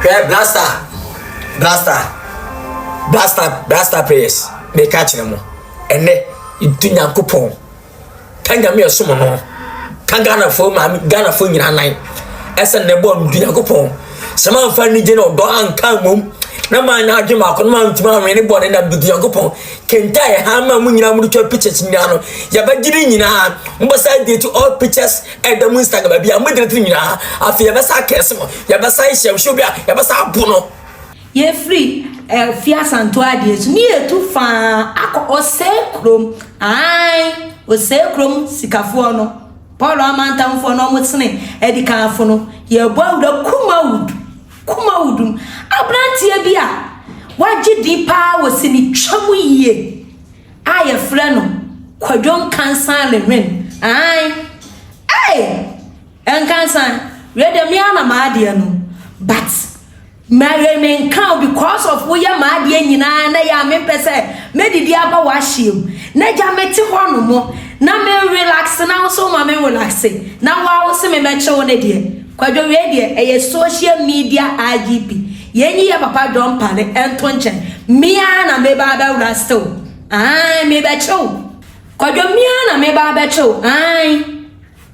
Hwɛ blaster blaster blaster blaster prayers meka kyerɛ mo ɛnɛ nti nyankopɔn ka nyame ɛsom no ka ghanafoɔ maame ghanafoɔ nyinaa nan ɛsɛ nnɛ bɔɔ nti nyankopɔn sɛ mamfa anigye na ɔdɔ anka mmom na manyɛ adwe maako no mantumi anwene ne bɔne na bidi nyankopɔn kenta ɛha ma mo nyinaa mode twa pictures nyinaa no yɛbɛgye ne nyinaa mobɛsa de to all pictures Ɛda mu nsa gaba bi a mogyina tiri nyinaa. Afei yɛbɛsa akɛse mo. Yɛbɛsa hyɛ nsuo bi a yɛbɛsa abo no. Yɛfiri eh, fi asanto adeɛ so ne yɛtu faa akɔ ɔsɛe kurom ae ɔsɛe kurom sikafoɔ no paul amantamfoɔ no ɔmo sene adikanfo no yɛbɔ awura kumawood kumawood mu abranteɛ bi a wagye din paa wɔ sinitwa mu yie A yɛfrɛ no Kwadwo Nkansah Lehwen, ae! Ei! Nkansah, wei deɛ me ara na m'adeɛ no, but ma wei menka o because of woyɛ m'adeɛ nyinaa na yɛ a mempɛ sɛ mɛdidi aba w'ahyeɛ mu. Na gya mete hɔ nom na me relax na wo so ma me relaxe na wo a wo se me mɛkye wo no deɛ, Kwadwo wei deɛ ɛyɛ social media IGP. Yɛn yi yɛ papa John Pale ɛnto nkyɛn me ara na meba abɛwura ase o ae mebɛkyɛ o. Kwadwo me ara na meba abɛkyɛ o ae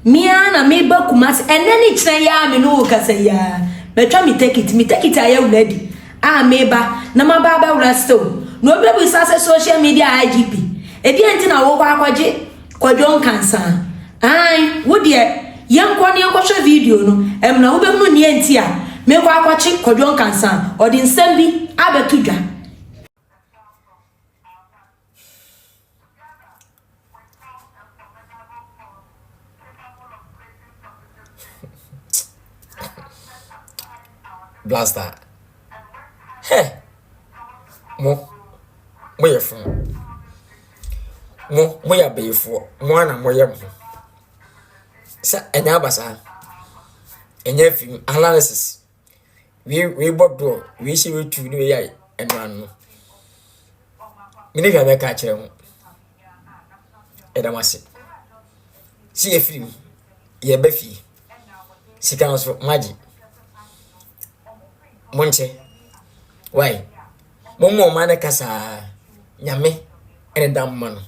me ara na meba Kumasi ɛnɛ ne kyerɛ yi a me ne wo kasa yi ara matwa me tekiti me tekiti ayɛ wuradi a meba na maba abɛwura ase o na obi bɛbisa sɛ social media IGP ɛdeɛn nti na wokɔ akɔgye Kwadwo Nkansah, Aane, wo deɛ yɛnkɔ na yɛnkɔhwɛ video no, ɛmna wobɛhunu neɛ nti a mekɔ akɔkye Kwadwo Nkansah, ɔde nsɛm bi abɛto dwa. Blaster. Heh. Mo. Mo yɛ fun. Mo moyɛ abayifoɔ, mo ara na moyɛ mo ho. Sɛ ɛnyɛ abasaa, ɛnyɛ afei mu analysis. Wei wei bɔ doɔ, wei hyɛ wei tuo ne wei yɛ ayi ɛno ano. Me ne hwɛ bɛka akyerɛ ho. Ɛda mo ase. Si yɛ firi mu, yɛ bɛ fie. Sika nso magye. Monkyɛ. Why? Mommɔ ɔman no kasa ara, Nyame ne da mma no.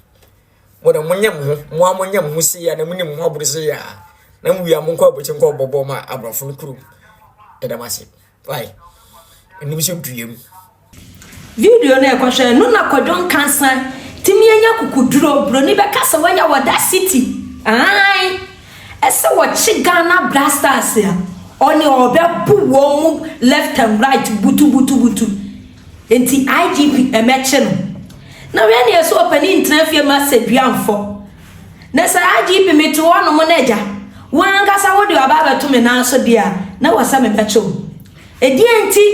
Mo de, monyɛ mo ho, mo ara monyɛ mo ho sei a na monim mo ho aboro sei a, na mowie a monkɔ abɔkyɛ nkɔ bɔbɔ ma aborɔfo no kurom. Ɛda mo ase. Why? Ɛnim sɛ dua mu. Video no ɛkɔhwɛ no na kwadwo nkansa timi anya kukuduro broni bɛka sɛ wanya wɔ that city aai. Ɛsɛ wɔkye Ghana Blasters a ɔne ɔrebɛbo wɔn mu left and right butubutubutu nti IGP ɛmɛkye no na wei neɛ sɛ ɔpanin ntena fie ma sedua mfɔ na sɛ IGP mete hɔ nom na agya wo ankasa wode aba abɛto me nan so deɛ a na wɔ sɛ mebɛkye wo ɛdeɛ nti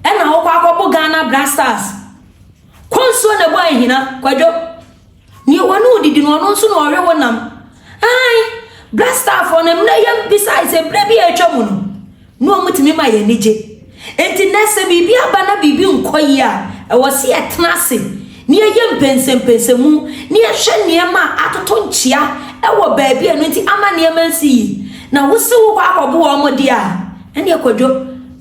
ɛna wokɔ akɔbo Ghana Blasters kɔ nsuo na bu ahina kwadwo Nea wɔne wo didi no, ɔno nso na ɔwe wo nam. Ae, Black Starfoɔ no, mmerɛ yɛn bisae sɛ berɛ bi a atwa mu no, na wɔtumi ma yɛn ani gye. Enti nɛ sɛ biribi aba na biribi nkɔ yie a, ɛwɔ sɛ yɛtena ase na yɛyɛ mpɛnsɛmpɛnsɛmu na yɛhwɛ nneɛma a atoto nkyea wɔ baabi a ɛno nti ama nneɛma nsi yie. Na wo se wokɔ akɔboa wɔn deɛ a, ɛneɛ kwadwo.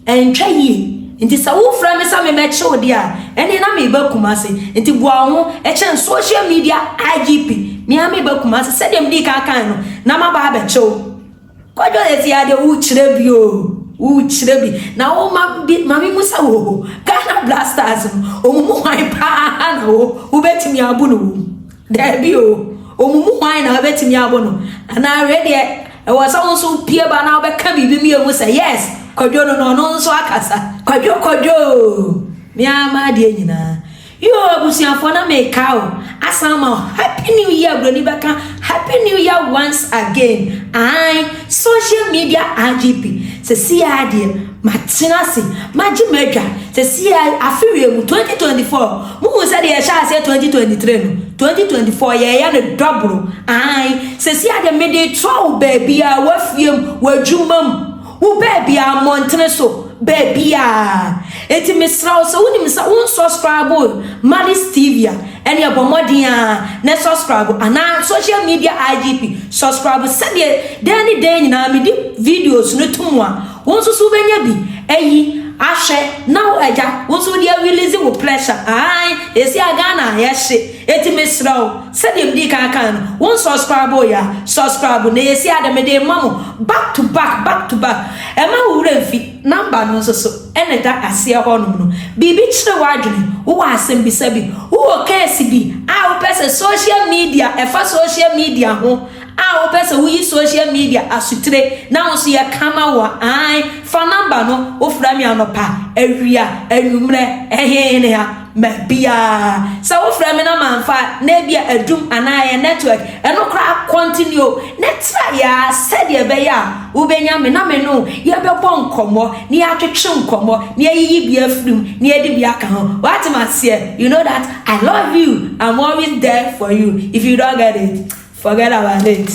Ɛntwa yie. Nti sɛ wo frɛ me sɛ me mɛkye wo deɛ a, ɛneɛ na me ba Kumasi. Nti boa wo ho kyɛn social media IGP. Me ara me ba Kumasi sɛdeɛ me dii kan kaeɛ no, na maba abɛkye wo. Kwadwo sɛsi ara deɛ wo kyerɛ bi o, wo kyerɛ bi. Na wo ma bi ma me mu sa wo ho. Ghana Blasters no, wɔn mu hwan paa na wo wo bɛtumi abo no wɔ mu? Daabi o, wɔn mu hwan na wo bɛtumi abo no? Anaa wei deɛ. Ɛwɔ sɛ wo nso wopue ba na wobɛka biribi mmienu sɛ, Yes, Kwadwo no na ɔno nso akasa. Kwadwo, Kwadwo o! Me ara m'adeɛ nyinaa. Yoo, abusuafoɔ na meka o, asan ama wo Happy New Year, Buroni bɛka Happy New Year once again, ae, social media RGP, seesei ara deɛ, Matena ase, magye m'adwa, seesei a afe wie mu, 2024, muhu sɛ deɛ yɛhyɛɛ aseɛ 2023 no, 2024 yɛɛyɛ no dɔboro, aane, seesei a deɛ mede retrɔ wo baabiara, w'afie mu, w'adwuma mu, wo baabiara, mmɔntene so, baabiara, enti mesrɛ wo sɛ wonim sɛ wo nsɔskraibo Malice TV a, ɛneɛ bɔ mmɔden ara na sɔskraibo, anaa social media IGP, sɔskraibo sɛdeɛ dɛn ne dɛn nyinaa mede videos no to mu a, Wo nso so wobɛnya bi ayi ahwɛ na wo agya wo nso wode arelease wo pressure aane seesei a Ghana ayɛ hye enti mesrɛ wo sɛdeɛ medii kan kae no wo nsubscribe yɛ a subscribe na ɛyɛ siaa dɛ mede rema mo back to back back to back mma wo werɛ mfi number no nso so na ɛda aseɛ hɔ nom no biribi kyere w'adwene wowɔ asɛm bisa bi wowɔ case bi a wopɛ sɛ social media ɛfa social media ho A wopɛ sɛ woyi social media asutire na wo nso yɛ ka ma wo a, ae, fa number no, wofrɛ me anɔpa, awia, anwummerɛ, ɛhe, hene ha, ma biara. Sɛ wofrɛ me na mamfa a, na ebia adum anaa ɛyɛ network, ɛno koraa continue o, na tra yɛ ara sɛdeɛ ɛbɛyɛ a wobɛnya me na me ne wo yɛbɛbɔ nkɔmmɔ, na yɛatwetwe nkɔmmɔ, na yɛayiyi bi afiri mu, na yɛde bi aka ho. Woate me aseɛ? You know that? I love you I'm always there for you if you don't get it forget about it.